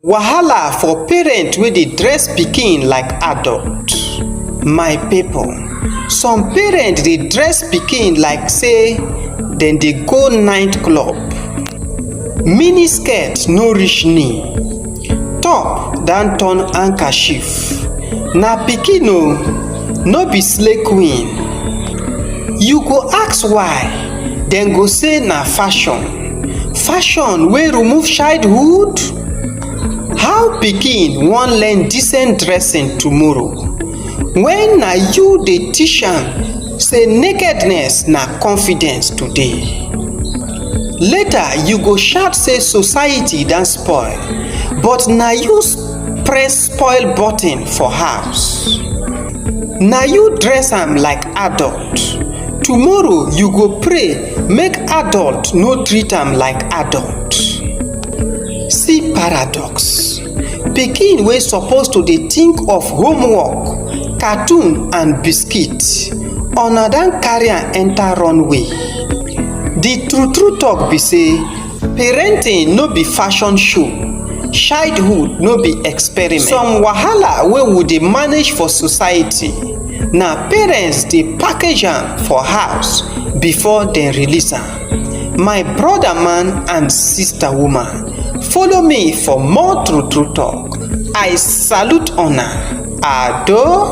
Wahala for parent wey dey dress pikin like adult. My people, some parent dey dress pikin like sey dem dey go night club. Mini skirt no reach knee, top don turn handkerchief. Na pikin o, no be slay queen. You go ask why, dem go say na fashion. Fashion wey remove childhood? How pikin wan learn decent dressing tomorrow when na you dey teach am sey nakedness na confidence today? Later you go shout sey society don spoil but na you press spoil button for house. Na you dress am like adult, tomorrow you go pray make adult no treat am like adult see paradox pikin wey suppose to dey think of homework cartoon and biscuit una don carry am enter runway the true true talk be say Parenting no be fashion show, childhood no be experiment. Some wahala wey we dey manage for society, na parents dey package am for house before dem release am. My brother man and sister woman, follow me for more true true talk. I salute una. Ado.